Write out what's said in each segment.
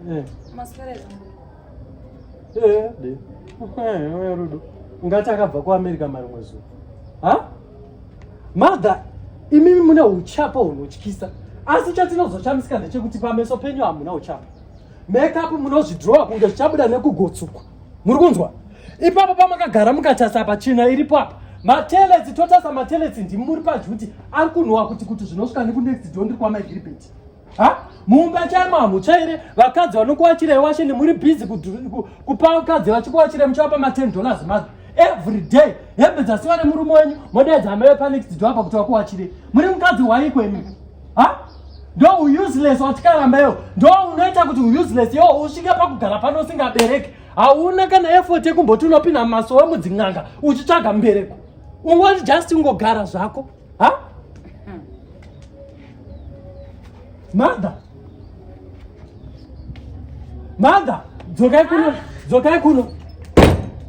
Eh. Eh, eh, rudo ungati akabva kuamerica marimwe zuva ha mother imimi mune uchapa hunotyisa asi chatinozochamisika ndechekuti pameso penyu hamuna uchapa makeup munozvidrowa kunge zvichabuda nekugotsukwa muri kunzwa ipapo pamakagara mukatasa apa china iripo apa matelesi totasa matelesi ndimi muri padyi kuti ari kunhuwa kuti kuti zvinosvika nekunext do ndiri kwamaigiribeti ha mumba chaimo hamuchaire vakadzi vanokuachira iwashe nemuri busy kupa vakadzi vachikuachira muchavapa ma10 dollars mother every day hembe dzasiwa nemurume wenyu modaidza amaive panext do apa kuti vakuachire muri mukadzi waiko imimi ha ndo useless watikaramba iwo ndo unoita kuti useless iwo usvike pakugara pano usingabereki hauna kana effort yekumboti unopinda mumasowe mudzin'anga uchitsvaga mubereko ungoti just ungogara zvako ha mother Mother, dzokai kuno, dzokai kuno.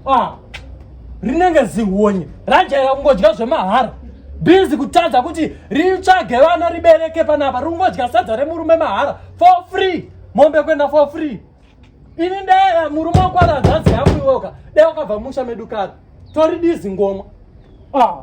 Ah. Rinenge zihonye. Rajaira kungodya zvemahara. Busy kutadza kuti ritsvage vana ribereke panapa. Rungodya sadza remurume mahara for free. Mombe kwenda for free. Ini ndaya murume wakwara nzadzi yangu iwoka. Dai wakabva musha medu kare. Tori dizi ngoma. Ah.